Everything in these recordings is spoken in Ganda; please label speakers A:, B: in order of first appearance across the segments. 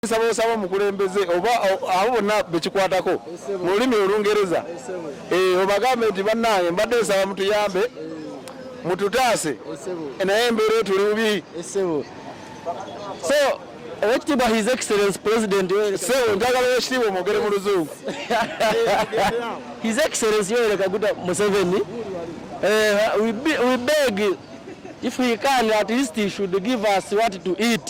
A: nsaba osaba omukulembeze oba abo bonna bekikwatako mu lulimi olungereza eh, obagambe nti bannange mbadde nsaba mutuyambe mututaase naye embeera etuli bubi so
B: owekitiibwa his excellence president sebo njagala owekitiibwa
A: omwogere mu luzungu
B: his excellence yoweri kaguta museveni eh, we beg if he can at least he should give us what to eat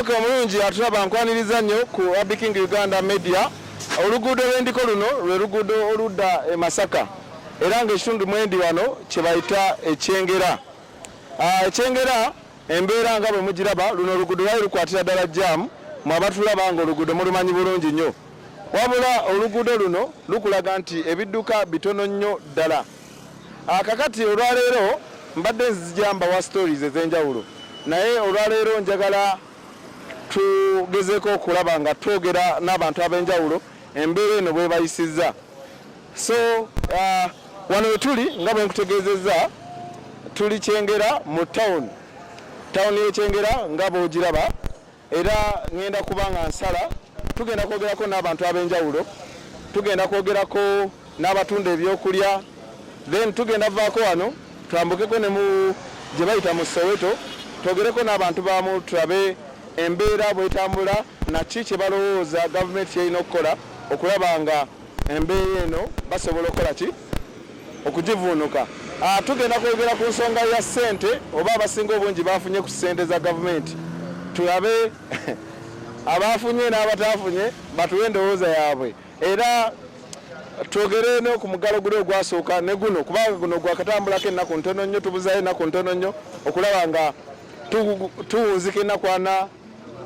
A: ok omulungi atulaba nkwaniriza nnyo ku abiking uganda media oluguudo lwendiko luno lwe luguudo oludda e masaka era nga ekitundu mwendi wano kyebayita ekyengera ah, ekyengera embeera nga bwe mugiraba luno oluguudo lwali lukwatira ddala jaamu mwe abatulaba nga oluguudo mulumanyi bulungi nnyo wabula oluguudo luno lukulaga nti ebidduka bitono nnyo ddala Akakati ah, olwaleero mbadde nzija mbawa stories ez'enjawulo naye olwaleero njagala tugezeko okulaba nga twogera n'abantu ab'enjawulo embeera eno bwebayisizza so uh, wano wetuli nga bwe nkutegeezezza tuli kyengera mu tawuni tawuni y'ekyengera nga bwogiraba era ngenda kuba nga nsala tugenda kwogerako n'abantu ab'enjawulo tugenda kwogerako n'abatunda ebyokulya then tugenda vaako wano twambukeko ne mu gye bayita mu soweto twogereko n'abantu bamu tulabe embeera bwetambula naki kye balowooza gavumenti kyerina okukola okulaba nga Embeera eno basobola okukola ki okugivuunuka? Ah, tugenda kwogera ku nsonga ya ssente oba abasinga obungi bafunye ku ssente za gavumenti tulabe abaafunye n'abataafunye batuwe endowooza yaabwe era twogere no ku muggalo guli ogwasooka ne guno kubanga guno gwakatambulako ennaku ntono nnyo tubuzayo ennaku ntono nnyo okulaba nga tuwunzika ennaku ana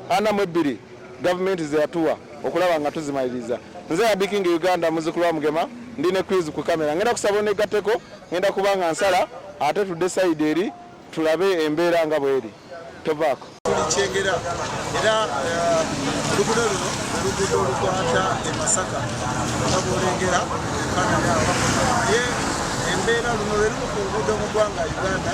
A: ana mu ebbiri gavumenti zeyatuwa okulaba nga tuzimaliriza nze abiking uganda muzukulu wa mugema ndi ne quiz ku kamera ngenda kusaba onegatteko ngenda kuba nga nsala ate tudde sayidi eri tulabe embeera nga bweri tovaako kyengera
C: era eh, lugudo luno olugudo olukwata e masaka nga bwolengera ekanada naye embeera luno lwe lumu ku lugudo mu ggwanga uganda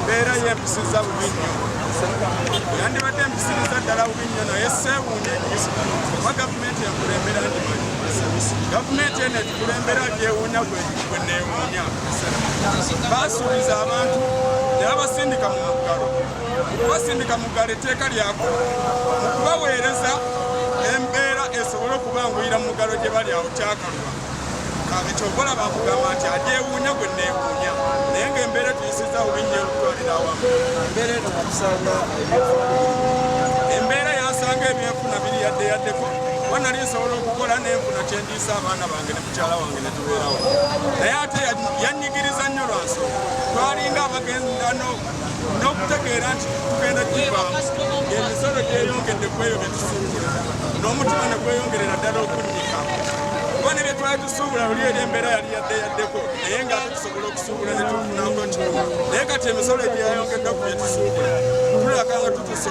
C: embeera yempisiza bubi nnyo yandibadde empisiriza ddala bubi nnyo naye seewuunya ennyo oba gavumenti yakulembera ndimanyi gavumenti eno etukulembera gyewuunya gwe neewuunya baasuubiza abantu ne babasindika mu muggalo basindika mu ggala etteeka lyako mu kubaweereza embeera esobole okubanguyira mu mugalo gye bali awo kyakalwa ekyokola bakugamba nti agyewuunya gwe neewuunya naye ngaembeera tuyisiza obi nnyo olutwalira awamu embeera yasanga ebyenfuna biri yadde yaddeko wanali nsobola okukola nenfuna kyendiisa abaana bange ne mukyala wange ne tubeerawo naye ate yanyigiriza nnyo lwansonga twalinga abagenzi n'okutegeera nti tugenda kivaamu emisolo gyeyongedde kweyo bye tusuubula n'omutima ne gweyongerera ddala okunnyika kuba ne bye twali tusuubula luli eri embeera yali yadde yaddeko naye nga ate tusobola okusuubula ne tufunako kino naye kati emisolo egyeyayongeddwa ku bye tusuubula tulaga nga tutusa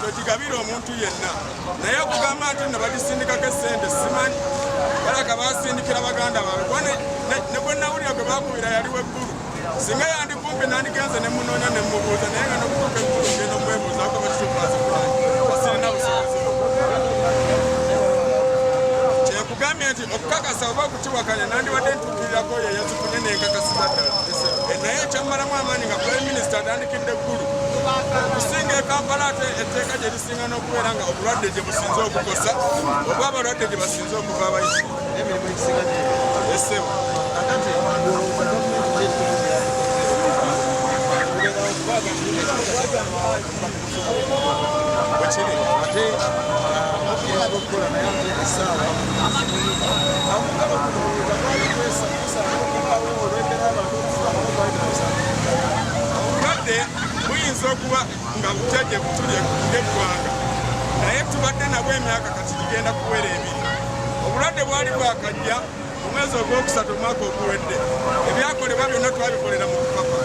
C: togigabira omuntu yenna naye okugamba nti no bagisindikako esente simanyi balaga basindikira baganda baabwe kuba ne gwe nawulira gwe bakubira yali weggulu singa yandikumpi nandigenze ne munoonya ne mubuuza naye nga nokutuuka eggulu ngenda okwebuuzaako bakitukwasa kulani basirina busobozi kyekugambye nti okukakasa oba okukiwakanya nandiwadde ntukirirako oyo eyazifunye nenkakasiza ddala eh, naye ekyammalamu amaanyi nga prime minister atandikidde eggulu okusinga ekampala ate etteeka gye lisinga n'okubeera nga obulwadde gye businze okukosa oba abalwadde gye basinze okuva abayisi emirimu egisinga esebo Thank you. buyinza okuba nga bujjaje butulye ng'eggwanga naye tubadde nabwo emyaka kati gigenda kuwera ebiri obulwadde bwali bwakajja Mu mwezi ogwokusatu omwaka oguwedde ebyakolebwa byonna twabikolera mu kupapa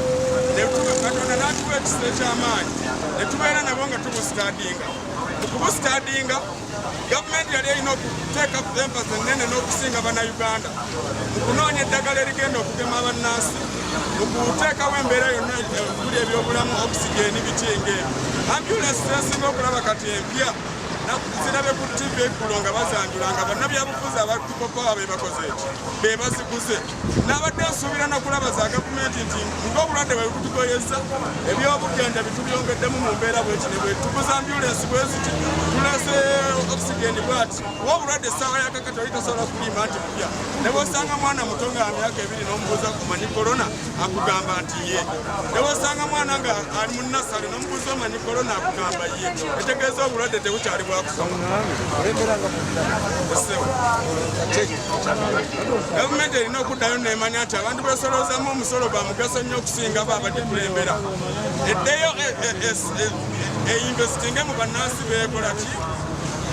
C: Katonda n'atuwa ekisa eky'amaanyi ne tubeera nabo nga tubusitadinga mu kubusitadinga gavumenti yali erina okuteeka ku empasi ennene n'okusinga bannayuganda mu kunoonya eddagala erigenda okugema abannansi mu kuteekawo embeera yonna okuli ebyobulamu okisigeni bitinga ebyo ambulensi zesinga okulaba kati empya zirabe ku ttivi eggulo nga bazanjula nga bannabyabufuzi Papa bebakoze eki bebaziguze nabadde nsuubira nakulaba za gavumenti nti ngaobulwadde bwebutugoyeza ebyobujjanja bitubyongeddemu mu mbeera bwekine bwetuguza ambulensi bweziti tulese oxygen bwati wa obulwadde essaawa yakakati oli tasobola kuliima nti kupya nebwosanga mwana muto nga myaka ebiri nomubuuza kumanyi korona akugamba nti ye newasanga mwana nga ali mu nasale nomubuuza omanyi kolona akugamba ye etegeeza obulwadde tebukyali bwakusagavumenti erina okuddayo nemanya nti abantu besoloozamu omusolo gwa mugaso nnyo okusinga bo abadikulembera eddeyo e, e, e, einvestinge mu bannansi bekolaki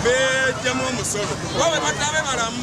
C: bejjamu omusolo oba bebatabe balamu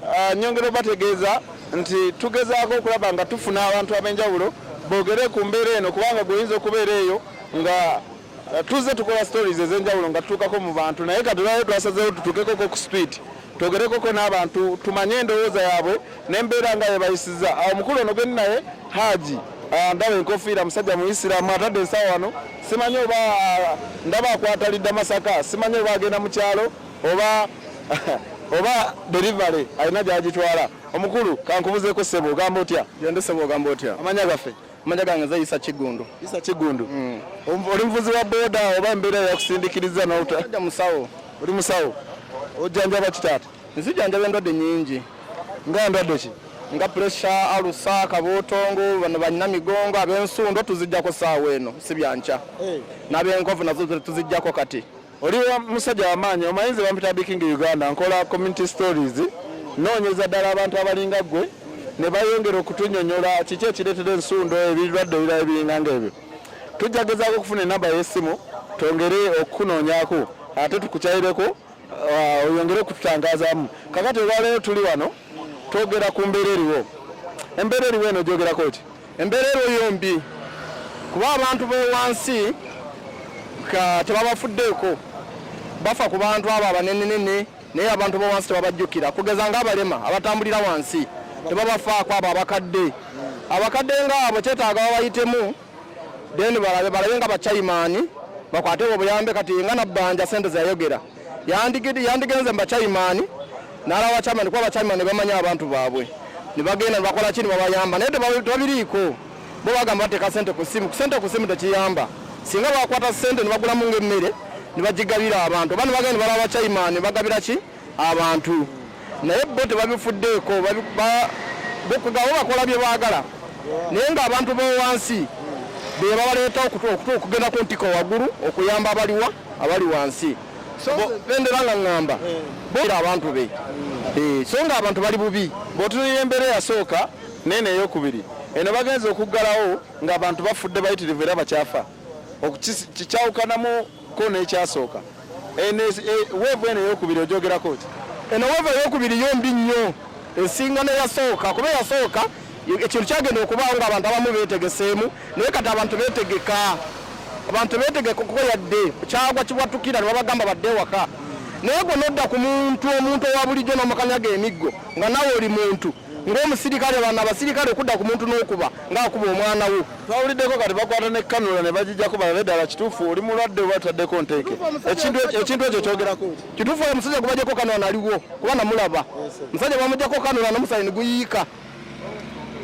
A: Ah, nyongera obategeeza nti tugezaako okulaba nga tufuna abantu ab'enjawulo boogere ku mbeera eno kubanga gweoyinza okubeera eyo nga ah, tuzze tukola stories ez'enjawulo nga tutuukako mu bantu naye katulayo twasazeewo tutuukekoko ku speed twogerekoko n'abantu tumanye endowooza yaabwe n'embeera nga yebayisiza awo ah, omukulu ono gwendi naye haaji ndaba enkofiira musajja muisiraamu atadde ensawa wano simanyi oba ndaba akwata lidda masaka simanyi oba agenda mu kyalo oba oba delivery alina gyagitwala omukulu kankubuzeeko sebo ogamba otya gende sebo ogamba otya
B: amanya gaffe amanya
A: gange nze isa
B: kiggundu isa kiggundu
A: mm. oli muvuzi wa boda oba embeera yakusindikiriza nolta musawo
B: oli musawo
A: ojjanjaba kitaata nzijanjaba endwadde
B: nyingi nga ndwadde
A: ki nga puresha
B: alusa kabotongo bano balina migongo ab'ensundo tuzijjako saawa eno si byankya eh. n'ab'enkovu nazo tuzijjako kati Oli musajja
A: wamaanyi omanyi nze bampita biking uganda nkola community stories noonyeza ddala abantu abalinga ggwe ne bayongera okutunyonyola kiki ekireetera ensundo ebirwadde ebirala ebiringa ngaebyo tujja gezaako okufuna enamba y'essimu twongere okukunoonyako ate tukukyayireko uh, oyongere okututangazaamu kakati olwaleero tuli wano twogera ku mbeera eriwo embeera eriwo eno gyogerako ki Embeera eriwo mbi
B: kuba abantu bewansi tebabafuddeeko bafa ku bantu abo abanenenene naye abantu bowansi tebabajjukira kugeza ngaabalema abatambulira wansi tebabafaako abo abakadde abakadde ngaabo kyetaaga babayitemu then balabe balabe nga bachaimani bakwatebwa obuyambe kati nga nabbanja sente zeyayogera yandigenze mu bacayimaani n'alaba bacayimaani kuba bacayimaani bamanya abantu baabwe ne bagenda nebakola ki ne babayamba naye tebabiriiko bo bagamba bateeka sente ku ssimu kusente ku ssimu tekiyamba singa bakwata sente ne bagulamu ng'emmere ne bagigabira abantu oba ne bagenda ne balaba bacayimaani bagabira ki abantu naye bo tebabifuddeeko bokugabo bakola bye baagala naye ng'abantu b'owansi be babaleeta okugenda ku ntiko waggulu okuyamba abaliwa abali wansi bendera nga ŋŋamba eh. bera abantu be hmm. eh, so nga abantu bali bubi bw'otunulira embeera
A: eyasooka neeno eyokubiri eno bagenza okuggalawo ng'abantu bafudde bayitirivu era bakyafa kikyawukanamu ko n'ekyasooka e, weevu eno eyokubiri ogyogerako ki eno weevu eyokubiri
B: yo mbi nnyo esinga neyasooka kuba eyasooka ekintu kyagenda okubaawo nga abantu abamu beetegeseemu naye kati abantu beetegeka abantu beetegeka kuko yadde kyagwa kibwatukira nebabagamba badde ewaka naye gwe nodda ku muntu omuntu owa bulijjo n'omukanyaga emiggo nga nawe oli muntu ng'omusirikale bana abasirikale okudda ku muntu n'okuba ng'akuba omwana wo twawuliddeko kati bakwata
A: ne kanula ne bagijjako balabe ddala kituufu oli mulwadde oba tutaddeko nteeke ekintu ekyo kyogerako kituufu oyo musajja gubajjako
B: kanula naliwo kuba namulaba musajja bamujjako kanula nomusaayi niguyiika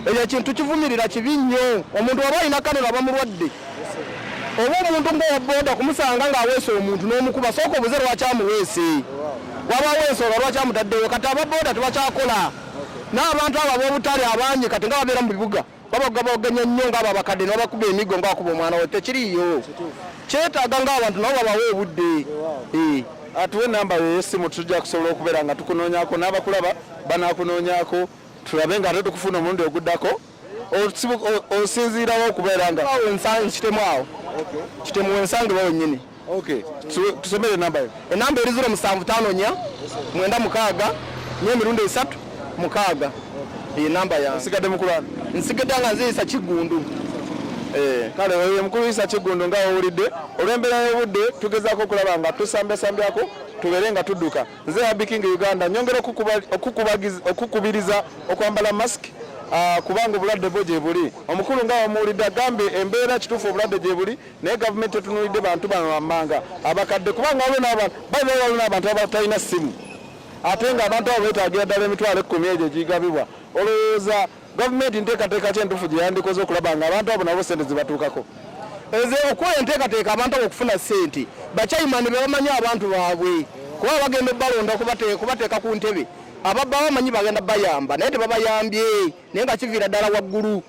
B: ekyo ekintu kivumirira kibi nnyo omuntu waba alina kanula bamulwadde oba omuntu ngaoboda kumusanga ng'aweese omuntu n'omukuba sooka obuze lwaki amuweese waba aweesooga lwaki amutaddewo kati ababoda tebakyakola n'abantu abo ab'obutale abangi kati nga babeera mu bibuga babaga boganya nnyo ngaabo abakadde nobakuba emigo nga wakuba omwana we tekiriyo kyetaaga ngaabantu nabo babawa obudde eh.
A: atuwe namba yeyesimu tujja kusobola okubeera nga tukunoonyako n'abakulaba banakunoonyako tulabe nga ate tukufuna omulundi oguddako osinziirawo okubeera nga kitemu awo
B: kitemu wensangiwa wenyini Okay.
A: Tusomere enamba yo. Enamba eri ziro musanvu
B: tano nya mwenda mukaaga nye mirundi esatu mukaaga iyi namba ya nsigade mukulana
A: nsigade nga nziyisa
B: kigundu eh,
A: kale oyo mukuluyisa kigundu nga owulidde olw'embeera y'obudde tugezaako okulaba nga tusambyasambyaku tubeere nga tudduka nze abiking uganda nyongera okukubiriza okwambala mask ah, kubanga obulwadde bwo gyebuli omukulu nga wamuwulidde agambye embeera kituufu obulwadde gyebuli naye gavumenti etunulidde bantu bano wammanga abakadde kubanga waliwo n'abantu baina waliwo n'abantu abatalina ssimu ate nga abantu abo beetagira ddala emitwalo ekkumi egyo gigabibwa olowooza gavumenti nteekateeka ki entuufu gye yandikoze okulaba nga abantu abo nabo sente zibatuukako eze okuwa
B: enteekateeka abantu abo okufuna ssente bakyayimani be bamanyi abantu baabwe kuba bagenda obalonda kubateeka ku ntebe ababba bamanyi bagenda bayamba naye tebabayambye naye nga kiviira ddala waggulu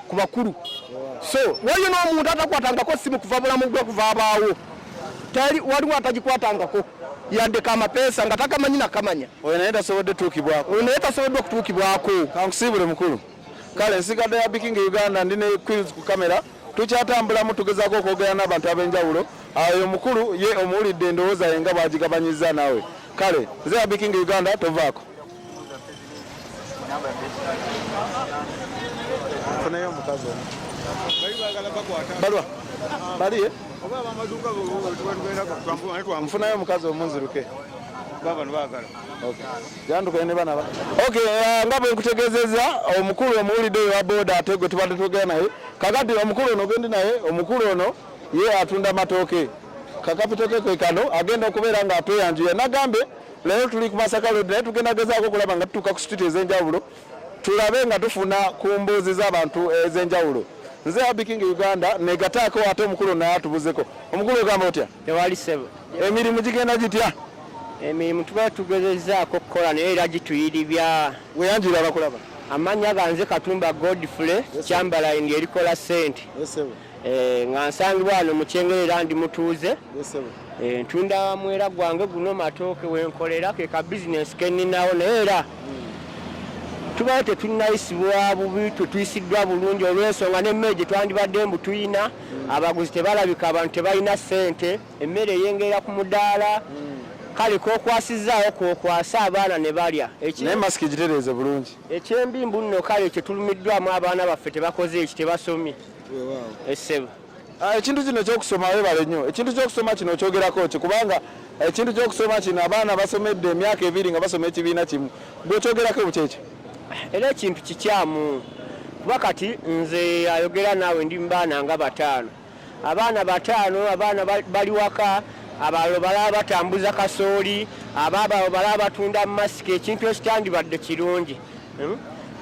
B: ku bakulu so waliyo n'omuntu atakwatangako simu kuva bulamu gwe kuva abaawo tali waliwo atagikwatangako yandeka amapeesa nga takamanyi nakamanya oyo naye tasobodde
A: tuukibwako oyo naye tasoboddwa
B: okutuukibwako kankusiibule mukulu
A: kale nsigadde ya bikinga uganda ndi ne quills ku kamera tukyatambulamu tugezaako okwogera n'abantu ab'enjawulo ayo omukulu ye omuwulidde endowooza ye nga bwagigabanyiza naawe kale nze ya bikinga uganda tovaako
C: Funayo omukazi ono. Balwa.
A: Bali ye? Oba
C: amaduka bo twagenda kwa twambu ane twa mfuna yo mukazi
A: omunziruke. Baba
C: nbagala. Okay. Yandu
A: kene bana ba. Okay, uh, nga bwe nkutegezeza omukulu omuwulide wa boda ategwe tubadde togera naye. Kakati omukulu ono gende naye omukulu ono ye atunda matoke. Kakapito ke kano agenda okubeera nga atweyanjuya. Nagambe Leero tuli ku Masaka Road naye tugenda gezaako okulaba nga tutuuka ku situti ez'enjawulo tulabe nga tufuna ku mbuuzi z'abantu ez'enjawulo. Nze Happy King Uganda negataako ate omukulu naye atubuzeko. Omukulu ogamba otya? Tewali sebo.
B: Emirimu gigenda
A: gitya? Emirimu
B: tuba tugezezaako okukola naye era gituyiribya. Weyanjira abakulaba.
A: Amanya ganze
B: Katumba Godfrey Chamberlain erikola sente. Eh, nga nsangibwa wano mu kyengere era ndi mutuuze eh, ntunda mwera gwange guno matooke wenkolera ke ka bizinensi keninawo naye era hmm. tubawo tetunayisibwa bubi tetuyisiddwa bulungi olwensonga nemmere gye twandibadde mbu tuyina hmm. abaguzi tebalabika abantu tebalina ssente emmere eyengerera ku mudaala hmm. kale kokwasizaawo kokwasa abaana ne balya naye masiki gitereeze
A: bulungi ekyembi mbu nno
B: kale kyetulumiddwamu abaana baffe tebakoze eki tebasomye essebo ah, ekintu
A: kino ekyokusoma webale nnyo ekintu kyokusoma kino okyogerako ki kubanga ekintu kyokusoma kino abaana basomedde emyaka ebiri nga basoma ekibiina kimu gwekyogerako bukyekyo era ekintu
B: kikyamu kuba kati nze ayogera naawe ndi mubaana nga bataano abaana bataano abaana bali waka abalalo balaba batambuza kasooli abaabalo balaba batunda masika ekintu ekitandibadde kirungi hmm?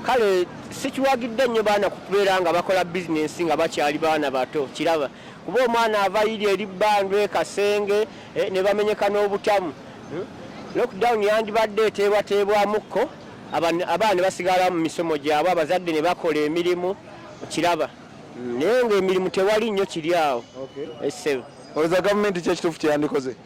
B: kale sikiwagidde nnyo baana kubeera nga bakola bizinensi nga bakyali baana bato kiraba kuba omwana ava yiri eri bbandwa ekasenge eh, ne bamenyeka n'obutamu hmm? lockdown yandibadde eteebwateebwamukko abaana basigala mu misomo gyabwe abazadde ne bakola emirimu kiraba hmm, naye ngaemirimu tewali nnyo kiri awo essebo eh, olowooza gavumenti
A: kyekituufu kyeyandikoze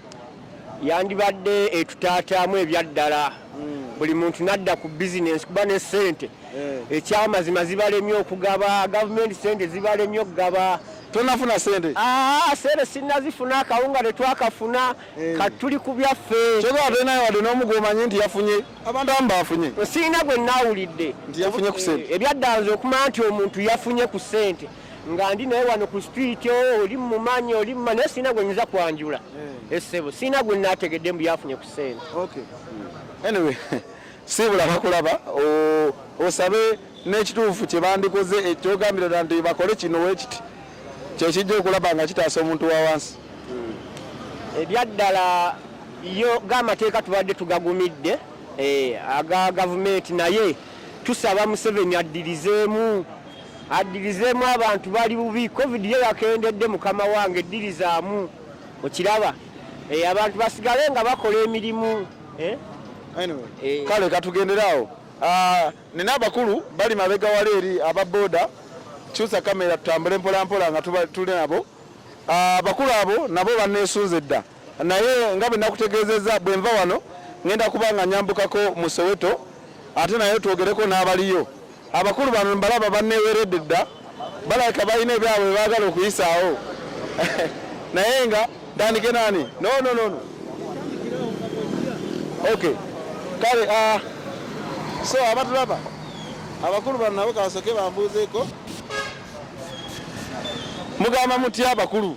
A: yandibadde
B: etutaataamu ebyaddala hmm. buli muntu nadda ku bizinensi kuba ne sente eh. ekyamazima zibalemye okugaba gavumenti sente zibalemye okugaba tonafuna sente
A: ah, sente
B: sinazifuna akawunga tetwakafuna eh. katuli ku byaffe kyoka ate naye wadde n'omu
A: gwomanyi nti yafunye abantu abamu bafunye sirina gwe nawulidde
B: nti yafunye ku sente
A: eh, ebyaddanza okumanya nti
B: omuntu yafunye ku sente nga ndi naye wano ku street oh, oli mumanyi oli mumanyi naye sirina gwe nyinza kwanjula eh. essebo eh, sirina gwe nategedde mbu yafunye ku sente
A: anyway siibula bakulaba osabe n'ekituufu kye bandikoze ekyogambira dda nti bakole kino wekiti kyekijja okulaba nga kitaasa omuntu wa wansi hmm. ebyaddala
B: yo gamateeka tubadde tugagumidde eh, aga gavumenti naye tusaba museveni addirizeemu addirizeemu abantu bali bubi covid yo yakendedde mukama wange eddirizaamu okiraba eh, abantu basigale nga bakola emirimu eh? Eh.
A: kale katugenderaawo ah, nina abakulu bali mabega wali eri aba boda kyusa kamera tutambule mpolampola nga tuli nabo ah, abakulu abo nabo banesunze dda naye nga bwe nakutegeezezza bwe nva wano ngenda kuba nga nyambukako mu soweto ate naye twogereko n'abaliyo abakulu bano mbalaba banneeweredde dda balabika balina ebyabwe baagala okuyisaawo naye nga ntandike naani nononono ok kale ah, so abatulaba abakulu bano nabo kabasoke bambuuzeeko mugamba mutya abakulu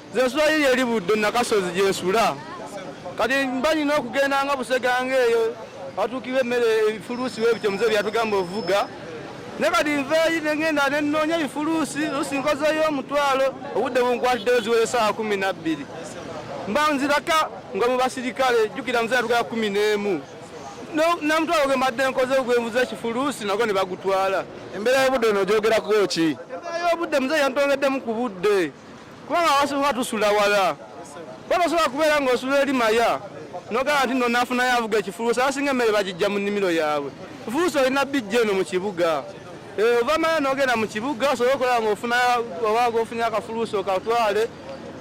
A: Nze
D: nsula yiri eri Buddo Nakasozi gye nsula. Kati mba nina okugendanga Buseganga eyo batuukirwa emmere ebifuluusi we bityo muze byatugamba ovuga ne kati nveeyi ne ngenda ne nnoonya ebifuluusi lusi nkozeeyo omutwalo obudde bunkwatiddeyo ziwere essaawa kumi na bbiri mba nziraka nga mu basirikale jjukira muze yatugala kumi n'emu namutwalo gwe mbadde nkoze ogwenvuza ekifuluusi nago ne bagutwala embeera y'obudde eno
A: ogyogerako ki embeera y'obudde muze
D: yantongeddemu ku budde kubanga abasobola tusula wala kuba basobola kubeera ng'osula eri maya nogamba nti no nafunayo avuga ekifuluusa abasinga emmere bagijja mu nnimiro yaabwe efuluusa olina bijja eno mu kibuga eh, ova maya nogenda mu kibuga osobola okola ngaofuna oba gofunye akafuluusa okatwale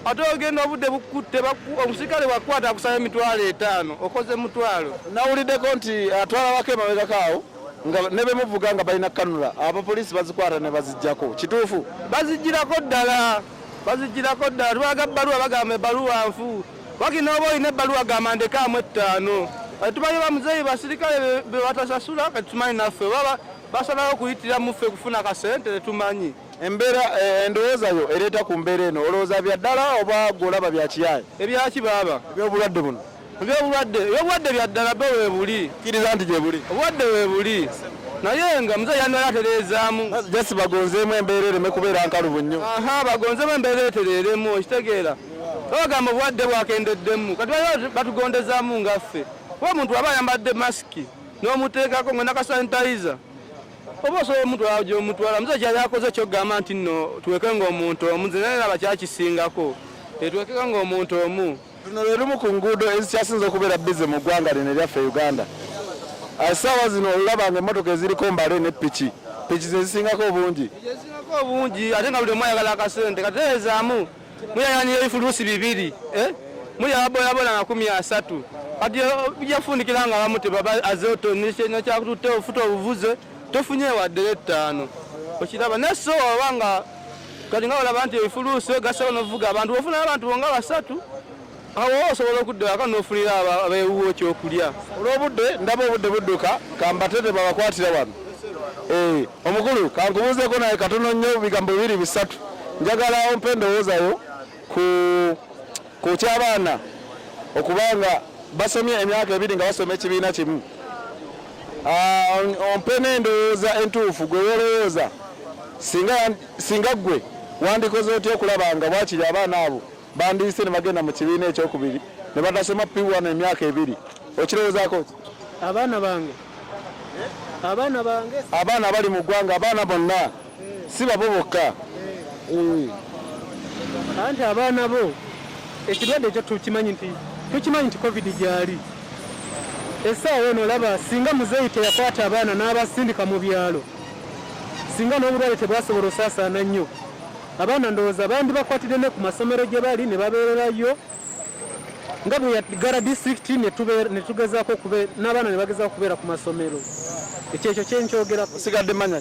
D: ate ogenda obudde bukutte omusikale wakwata akusaba emitwalo etaano okoze mutwalo nawuliddeko nti
A: atwala wako emabegakaawo nga ne be muvuga nga balina kanula abapoliisi bazikwata ne bazijjako kituufu bazijjirako ddala
D: bazijjirako ddala tubalaga bbaluwa bagamba ebbaluwa nfu wakiri nooba olina ebbaluwa gamba ndekaamu ettaano kati tumanyi bamuzeeyi basirikale be batasasula kati tumanyi naffe baba basalawo okuyitira muffe kufuna kasente tetumanyi embeera eh,
A: endowooza yo ereeta ku mbeera eno olowooza bya ddala oba gweolaba bya kiyaaye ebyaki baaba
D: ebyobulwadde buno
A: ebyobulwadde ebyobulwadde
D: byaddala be webuli kiriza nti gyebuli
A: obulwadde webuli
D: naye nga muzeeyi yandala atereezaamu just bagonzeemu
A: embeera ereme kubeera nkalubu nnyo aha bagonzeemu embeera
D: etereeremu okitegeera babagamba obulwadde bwakendeddemu kati batugondezaamu ngaffe kuba omuntu aba ayambadde masiki n'omuteekako nga nakasanitayiza oba osobola omuntu gyomutwala muzeeyi kyali akoze ekyokugamba nti nno tuweke ngaomuntu omu nze naye naba kyakisingako tetwekeka ngaomuntu omu Luno lwe lumu ku
A: nguudo ezikyasinze okubeera bize mu ggwanga lino eryaffe Uganda. Essaawa ah, zino olulaba nga emmotoka eziriko mbale ne piki piki ze zisingako obungi zisingako obungi
D: ate nga buli omu ayagala akasente katereezaamu muyayanira ebifuluusi bibiri eh? mulya baboyabola makumi asatu kati bijja kufundikira nga bamu azeo nekyakututte ofuta obuvuze tofunye waddere ettaano okiraba naye so oba nga kati nga olaba nti ebifuluusi ogasao novuga abantu ofuna abantu bonga basatu awo osobola okudda waka nofunira abewuwo kyokulya olwobudde ndaba
A: obudde budduka kambatete babakwatira wano eh, omukulu kankubuuzeko naye katono nnyo bigambo bibiri bisatu njagala ompa endowoozayo ku Ku ky'abaana okuba nga basomye emyaka ebiri nga basoma ekibiina kimu, ah, ompe n'endowooza entuufu gwe wolowooza singa gwe wandikoze otya okulaba nga bwakiri abaana abo bandiyise ne bagenda mu kibiina ekyokubiri ne batasoma piwano emyaka ebiri okirowoozaako ki abaana bange abaana bange abaana bali mu ggwanga abaana bonna si babo bokka
E: anti abaana bo ekirwadde ekyo tukimanyi nti tukimanyi nti covid gyali esaawa eno olaba singa muzeeyi teyakwata abaana n'abasindika mu byalo singa n'obulwale tebwasobola osaasaana nnyo abaana ndowooza bandi bakwatidde ne ku masomero gye bali ne babeererayo nga bwe yagala disitulikiti ne tugezaako n'abaana ne bagezaako okubeera ku masomero ekyo ekyo kyenkyogerako sigadde manya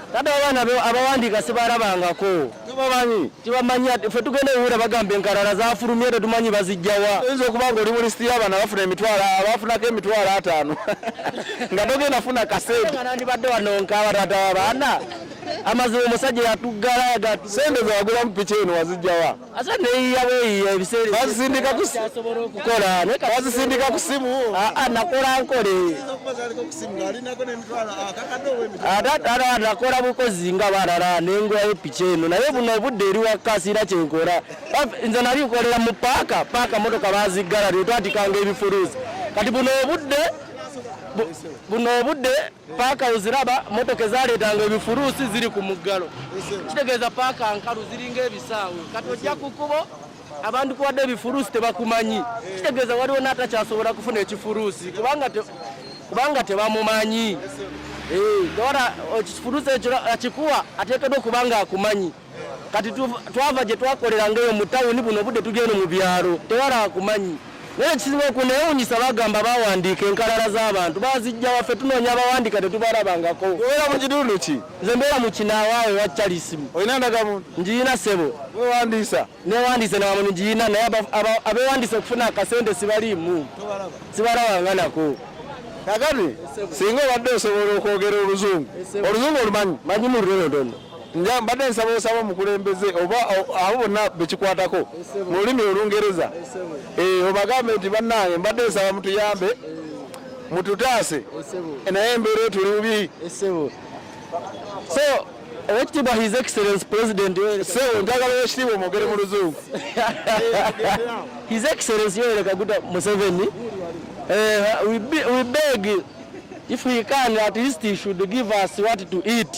A: Kati abaana
B: abawandiika sibalabangako tibamanyi ffe tugenda ewuura bagamba enkalala zafulumye tetumanyi bazijjawa oyinza okuba nga oli mu lisiti
A: y'abaana bafuna emitwalo abafunako emitwalo ataano nga togenda funa kasentenandibadde wanonkaba
B: tata wabaana amazima omusajja yatuggala sente zawagulamu
A: piki eno wazijjawa ate neyiya
B: bweyiya ebiseera bazisindika kukola
A: bazisindika ku simu ah, ah, nakola nkole
B: ah, nakola bukozi nga balala nengwayo piki eno naye buno obudde eri wakka siina kyenkola nze nali nkolera mu paaka paaka motoka baziggala tetwatikanga ebifuluuzi kati buno obudde buno obudde paaka oziraba motoka ezaleetanga ebifuruusi ziri ku muggalo kitegeeza paaka nkalu ziringa ebisaawe kati ojja ku kubo abantu kuwadde ebifuruusi tebakumanyi kitegeeza waliwo n'atakyasobola kufuna ekifuruusi kubanga tebamumanyi eh, ora ekifuruusi ekyo akikuwa ateekeddwa okuba nga akumanyi kati twava gye twakolera ngaeyo mu tawuni buno obudde tugenda mu byalo tewala akumanyi naye ekisinga okunewunyisa bagamba bawandiika enkalala z'abantu bazijja waffe tunoonya abawandiika tetubalabangako obeera mu kitundu
A: ki nze mbeera mu kinawaawe
B: wa calisimu olina ndagamuntu
A: ngiyina sebo
B: wewandiisa
A: newandiise nawamuntu
B: ngiyina naye abewandiisa okufuna akasente sibaliimu sibalabanga nako kakati
A: singa obadde osobola okwogera oluzungu oluzungu olumanyi manyi mu lulondoni
B: nja mbadde nsaba
A: osaba omukulembeze oba abo bonna bekikwatako mu lulimi olungereza eh, obagambe nti bannange mbadde nsaba mutuyambe mututaase naye embeera etuli bubi
B: so owekitiibwa his excellence president sewo njagala
A: owekitiibwa omwogere mu luzungu his
B: excellence yoweri kaguta museveni eh, we beg if he can at least he should give us what to eat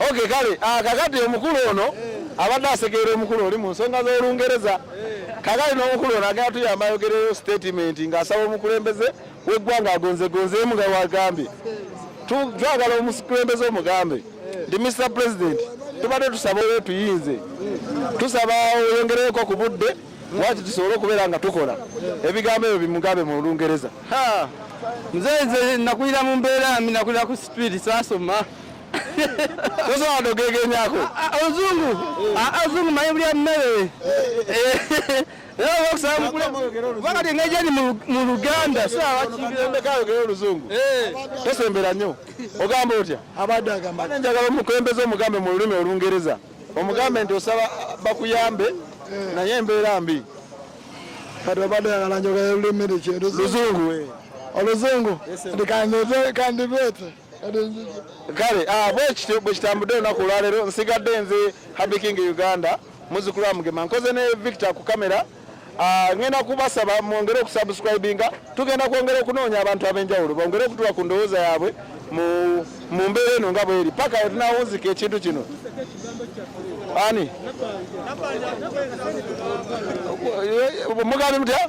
A: Okay, kale ah, kakati omukulu ono abadde asekeera omukulu oli mu nsonga z'Olungereza kakati n'omukulu ono agenda tuyamba ayogereyo statement ng'asaba omukulembeze w'eggwanga agonzegonzeemu nga wagambye twagala omukulembeze omugambe nti Mr President tubadde tusaba oyo tuyinze tusaba oyongereko ku budde waki tusobole okubeera nga tukola ebigambo ebyo bimugambe mu Lungereza mzee
D: nze nakulira mu mbeera mbi nakulira ku street saasoma
A: Sasa wadogege nyako. Azungu.
D: Ah, ah, Azungu ah, maibria mmere. wakati ngeja ni mu luganda sawakimbirembekayogera oluzungu
A: eh. tosembera nnyo ogamba otya abadde agamba
C: njagala omukulembeze
A: omugambe mu lulimi olungereza omugambe nti osaba bakuyambe eh. naye embeera mbi kati
C: obadde yagala njogera lulimi luzungu
A: eh. oluzungu
C: ndi kandibeete
A: kale ah, bwekityo bwekitambudde olunaku olwaleero nsigadde nze happy king uganda muzukulu wa mugema nkoze ne victor ku kamera ah, ngenda kubasaba mwongere okusubscribinga tugenda kwongera okunoonya abantu ab'enjawulo bongere okutuwa ku ndowooza yaabwe mu mbeera eno nga bweri paka wetunawunzika ekintu kino ani mugambe mutya